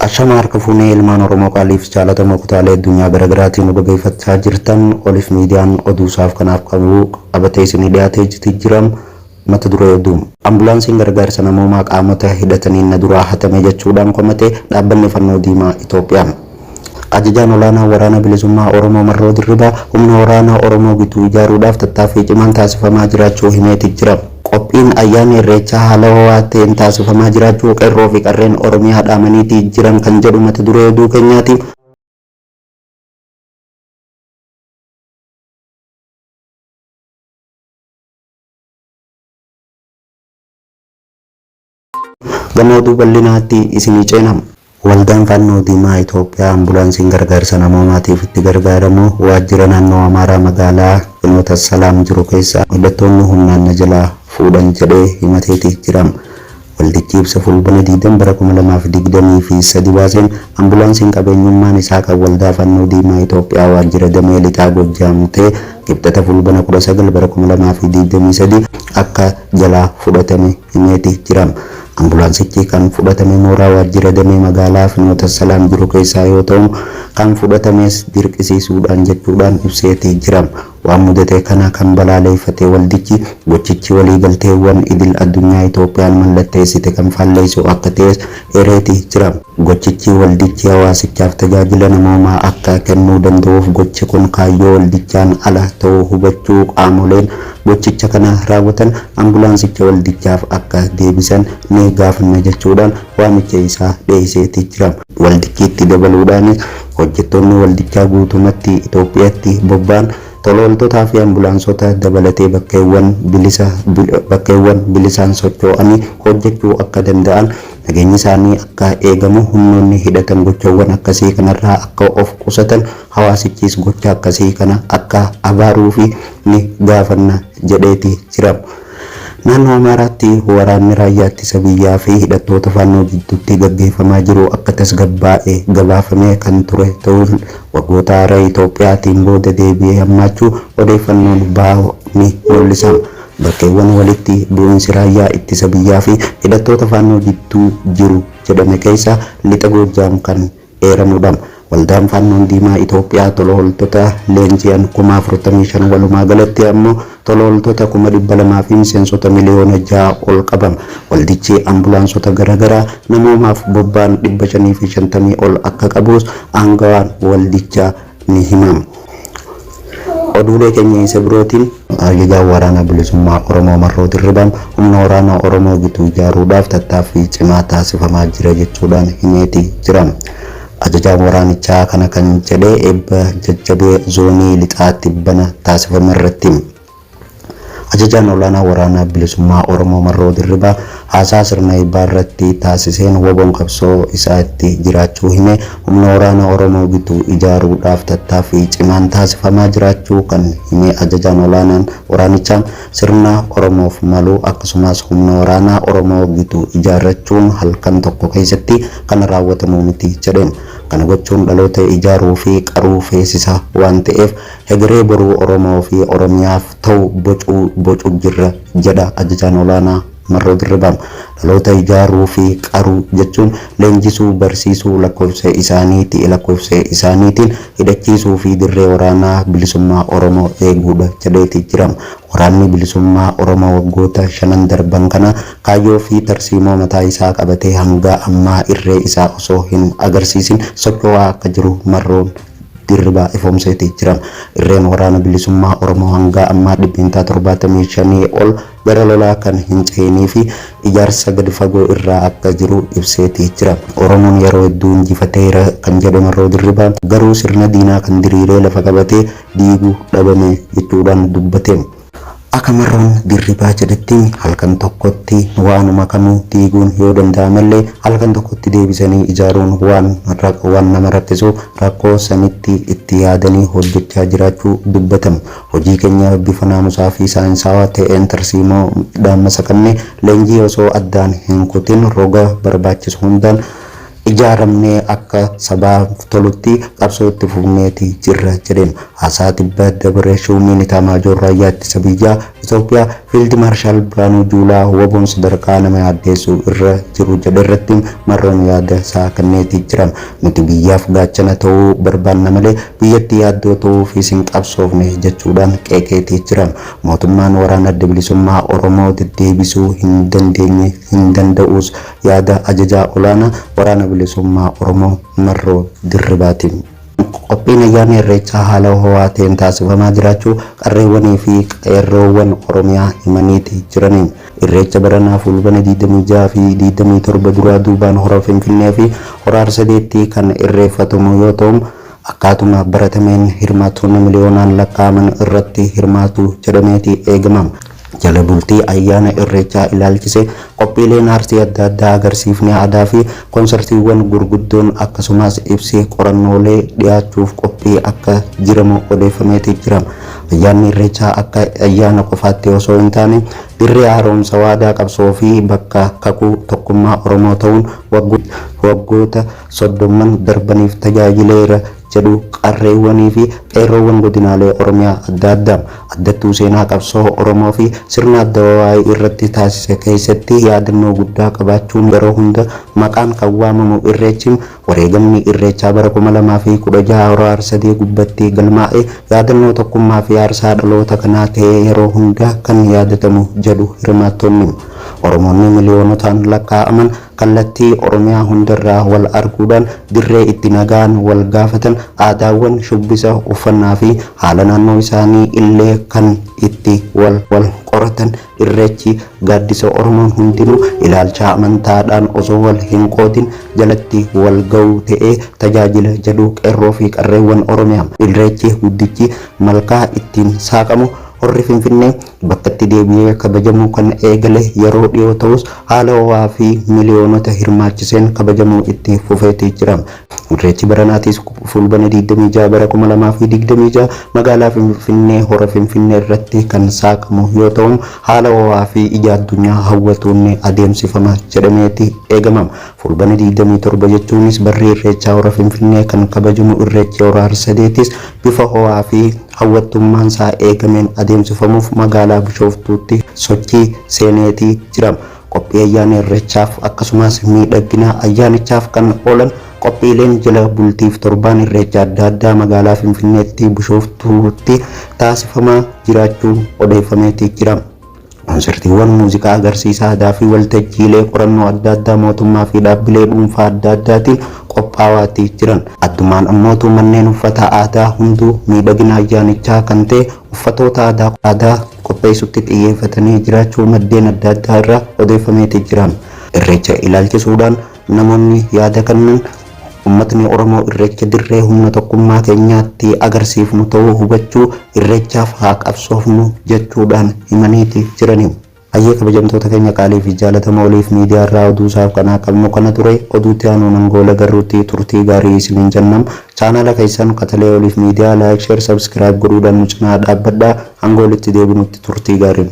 Ashama harka fuunee ilmaan oromoo qaaliif jaalatamoo kutaalee addunyaa garagaraatii nu dhageefachaa jirtan oliif miidiyaan oduu isaaf kanaaf qabu qabatee isinii dhiyaatee jiti jira mata duree oduu. Ambulaansiin gargaarsa namoomaa qaamota hidhataniin na duraa hatame jechuudhaan komate dhaabbanni fannoo diimaa Itoophiyaa. Ajajaan Olaanaa Waraana Bilisummaa Oromoo Marroo Dirribaa humna waraana Oromoo gitu ijaaruudhaaf tattaaffii cimaan taasifamaa jiraachuu himeeti jira. Qophiin ayyaana Irreechaa haala ho'aa ta'een taasifamaa jiraachuu Qeerroo fi Qarreen Oromiyaa dhaamaniiti jiran kan jedhu mata duree oduu keenyaati. Gama oduu bal'inaatti isinii ceena. Waldaan Fannoo Diimaa Itoophiyaa Ambulaansiin gargaarsa namoomaatiif itti gargaaramu waajjira naannoo Amaaraa magaalaa Finoota Salaam jiru keessaa hidhattoonni humnaan na jalaa fuudhan jedhee himateeti jira. Waldichi ibsa Fulbina 20 bara 2023 baaseen ambulaansiin qabeenyummaan isaa kan Waldaa Fannoo Diimaa Itoophiyaa waajjira damee Lixaa Gojjaam ta'e Kibxata Fulbina 19 bara 2023 akka jalaa fudhatame himeeti jira. Ambulaansichi kan fudhatame mooraa waajjira damee magaalaa Finoota Salaam jiru keessaa yoo ta'u, kan fudhatames dirqisiisuudhaan jechuudhaan ibseeti jira. Waan mudate kana kan balaaleeffate waldichi, gochichi waliigalteewwan idil addunyaa Itoophiyaan mallatteessite kan faalleessu akka ta'es eereeti jira. Gochichi waldichi hawaasichaaf tajaajila namoomaa akka kennuu danda'uuf gochi kun kaayyoo waldichaan ala ta'uu hubachuu qaamoleen gochicha kana raawwatan ambulaansicha waldichaaf akka deebisan ni gaafanna jechuudhaan waamicha isaa dhiyeesseeti jira. Waldichi itti dabaluudhaanis hojjettoonni waldichaa guutumatti Itoophiyaatti bobba'an tolaooltotaa fi ambulaansota dabalatee bakkeewwan bilisa bakkeewwan bilisaan sochoo'anii hojjechuu akka danda'an nageenyi isaanii akka eegamu humnoonni hidhatan gochawwan akkasii kanarraa akka of qusatan hawaasichis gocha akkasii kana akka abaaruufi ni gaafanna jedheeti jira. Naannoo Amaaraatti waraanni Raayyaa Ittisa Biyyaa fi hidhattoota Faannoo jidduutti gaggeeffamaa jiru akka tasgabbaa'e gabaafamee kan ture ta'us waggoota Itoophiyaa tiin booda deebi'ee hammaachuu odeeffannoon bahu ni mul'isa. Bakkeewwan walitti bu'iinsi raayyaa ittisa biyyaa fi hidhattoota Faannoo jidduu jiru jedhame keessaa Lixa Goojjaam kan eeramu dha. Waldaan Faannoon Diimaa Itoophiyaa tolooltota leenji'an kuma 45 walumaa galatti ammoo tolooltota kuma 200 fi miseensota miliyoona 6 ol qaba. Waldichi ambulaansota gara garaa namoomaaf bobba'an 550 ol akka qabus aangawaan waldichaa ni himamu. Oduulee keenya isa birootiin. Ajajaan Waraana Bilisummaa Oromoo Marroo Dirribaan humna waraanaa Oromoo gitu ijaaruudhaaf tattaaffii cimaa taasifamaa jira jechuudhaan himeeti jira. Ajajaan waraanichaa kana kan jedhe eebba jajjabee zoonii lixaa tibbana taasifamerratti. Ajajaan Olaanaa Waraana Bilisummaa Oromoo Marroo Dirribaa haasaa sirna eebbaa irratti taasiseen wbon qabsoo isaa itti jiraachuu himee, humna waraana Oromoo gitu ijaaruu dhaaf tattaaffii cimaan taasifamaa jiraachuu kan himee Ajajaan Olaanaan waraanichaa, sirna Oromoof malu akkasumaas humna waraanaa Oromoo gitu ijaarrachuun halkan tokko keessatti kan raawwatamu miti jedheen. Kana gochuun dhaloota ijaaruu fi qaruu feesisa waan ta'eef Hegeree boruu Oromoo fi Oromiyaaf ta'u bocuu bocu jirra jedha Ajajaan Olaanaa Marroo Dirribaa. Dhaloota ijaaruu fi qaruu jechuun leenjisuu, barsiisuu, lakkoofsa isaanii ti lakkoofsa isaaniitiin hidhachiisuu fi dirree waraanaa bilisummaa Oromoo eeguudha jedhee ti jira. Waraanni Bilisummaa Oromoo waggoota shanan darban kana kaayyoo fi tarsiimoo mataa isaa qabatee hangaa ammaa irree isaa osoo hin agarsiisin socho'aa akka jiru Marroon Dirribaa Ifoomseeti jiran. Irreen Waraana Bilisummaa Oromoo hangaa ammaa dhibbeentaa 75 ol gara lolaa kan hin cehinii fi ijaarsa gadi fagoo irraa akka jiru ibseeti jira. Oromoon yeroo hedduu injifateera kan jedhe Marroo Dirribaa, garuu sirna diinaa kan diriiree lafa qabate diigu dhabame jechuudhaan dubbate. Aka Marroon Dirribaa jedhetti halkan tokkotti waanuma kamuu diiguun yoo danda'amellee halkan tokkotti deebisanii ijaaruun waan waan nama rakkisuuf rakkoo sanitti itti yaadanii hojjechaa jiraachuu dubbatamu. Hojii keenya bifa naamusaa fi saayinsaawaa ta'een tarsiimoo dhaan masakannee leenjii osoo addaan hin kutin roga barbaachisu hundaan ijaaramnee akka sabaaf tolutti qabsoo itti fufneeti jirra jedheen. Haasaa tibba dabre Shuumiin Itaamaajoor Raayyaa Ittisa Biyyaa Itoophiyaa Fiild Maarshaal Birhaanuu Juulaa wboon sadarkaa nama yaaddeessu irra jiru jedhe irratti marroon yaada isaa kenneeti jira. Nuti biyyaaf gaachana ta'uu barbaanna malee biyyatti yaaddoo ta'uufiis hin qabsoofne jechuudhaan qeeqeeti jira. Mootummaan Waraana Adda Bilisummaa Oromoo deddeebisuu hin dandeenye, hin danda'uus Yaada Ajajaa Olaanaa Waraana Bilisummaa Oromoo Marroo Dirribaati. Qophiin Ayyaana Irreechaa haala ho'aa ta'een taasifamaa jiraachuu qarreewwanii fi qeerroowwan Oromiyaa himaniiti jirani. Irreecha baranaa Fuulbana 26 fi 27 duraa duubaan Hora Finfinnee fi Hora Arsadeetti kan irreeffatamu yoo ta'u, akkaatuma baratameen hirmaattoonni miliyoonaan lakkaa'aman irratti hirmaatu jedhameeti eegama. Jala bultii ayyaana Irreechaa ilaalchisee qophiileen aartii adda addaa, agarsiifni aadaa fi konsartiiwwan gurguddoon akkasumaas ibsi qorannoolee dhiyaachuuf qophii akka jiramu odeeffameeti jira. Ayyaanni Irreechaa akka ayyaana qofaatti osoo hin taane dirree haaromsa waadaa qabsoo fi bakka kakuu tokkummaa Oromoo ta'uun waggoota soddomman darbaniif tajaajileera. jedhu qarreewwanii fi qeerroowwan godinaalee Oromiyaa adda addaa addattuu seenaa qabsoo Oromoo fi sirna Addawawaayii irratti taasise keessatti yaadannoo guddaa qabaachuun yeroo hunda maqaan kan waamamu Irreechi wareegamni Irreechaa bara 2016 Hora Harsadee gubbatti galmaa'e yaadannoo tokkummaa fi aarsaa dhaloota kanaa ta'ee yeroo hunda kan yaadatamu jedhu hirmaattonni. Oromoonni miliyoonotaan lakkaa'aman kallattii Oromiyaa hundarraa wal arguudhaan dirree itti nagaan wal gaafatan, aadaawwan shubbisa, uffannaafi haala naannoo isaanii illee kan itti wal wal qoratan Irreechi gaaddisa Oromoon hundinuu ilaalchaa amantaadhaan osoo wal hinqoodin jalatti wal ga'u ta'ee tajaajila jedhu Qeerroofi Qarreewwan Oromiyaa. Irreechi guddichi malkaa ittiin saaqamu Horri Finfinnee. Bakkatti deebi'ee kabajamuu kan eegale yeroo dhiyoo ta'us, haala ho'aa fi miliyoonota hirmaachiseen kabajamuu itti fufeeti jira. Irreechi baranaatis Fuulbana 26 bara 2026 magaalaa Finfinnee Hora Finfinneerratti kan saaqamu yoo ta'u, haala ho'aa fi ija addunyaa hawwatuun ni adeemsifama jedhameeti eegama. Fuulbana 27 jechuunis barri Irreechaa Hora Finfinnee kan kabajamu Irreechi Hora Harsadeetis bifa ho'aa fi. hawwattummaan isaa eegameen adeemsifamuuf magaalaa Bishooftuutti sochii seeneetii jira. Qophii ayyaana Irreechaaf akkasumaas miidhaggina ayyaanichaaf kan oolan qophiileen jala bultiif torbaan Irreecha adda addaa magaalaa Finfinneetti Bishooftuutti taasifamaa jiraachuun odeeffameetii jira. Konsartiiwwan muuziqaa, agarsiisa aadaa fi waltajjiilee qorannoo adda addaa mootummaa fi dhaabbilee dhuunfaa adda addaatiin qophaawaati jiran. Addumaan ammootu manneen uffata aadaa hunduu miidhagina ayyaanichaa kan ta'e uffatoota aadaa aadaa qopheessutti xiyyeeffatanii jiraachuu maddeen adda addaa irraa odeeffameeti jira. Irreecha ilaalchisuudhaan. Namoonni yaada kannan Ummatni Oromoo Irreecha dirree humna tokkummaa keenyaa itti agarsiifnu ta'uu hubachuu Irreechaaf haa qabsoofnu jechuudhaan himaniiti jirani. Hayyee kabajamtoota keenya qaalii fi jaalatamoo oliif miidiyaa irraa oduu isaaf kanaa qabnu kana ture. Oduu itti aanuun hanga wal agarruutti turtii gaarii isiniin jennam. Chaanaala keessan Qatalee Oliif Miidiyaa Like Share Subscribe godhuudhaan nu cinaa dhaabbadhaa. Hanga walitti deebinutti turtii gaarii.